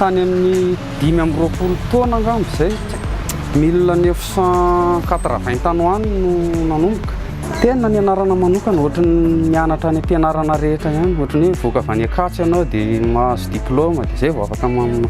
tany amin'ny dimy amby roapolo taona angamba izay mille neuf cent quatre vingt tany ho any no nanomboka tena ny anarana manokana ohatry ny mianatra any am-pianarana rehetra ihany ohatry ny hoe voaka avy any Ankatso ianao dia mahazo diplaoma dia izay vao afaka manao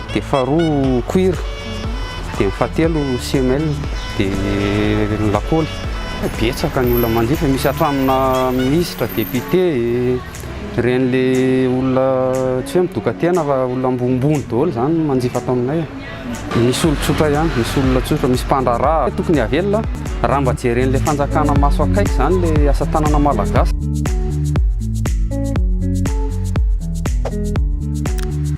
dia faharoa cuir, dia ny fahatelo semelle, dia ny lakoly. Betsaka ny olona manjifa, misy hatramina minisitra, député, ireny le olona tsy hoe midoka-tena fa olona ambonimbony daholo izany no manjifa ato aminay e. Misy olon-tsotra ihany, misy olona tsotra, misy mpandraharaha. Tokony havelona raha mba jeren'ilay fanjakana maso akaiky izany ilay asa tanana malagasy.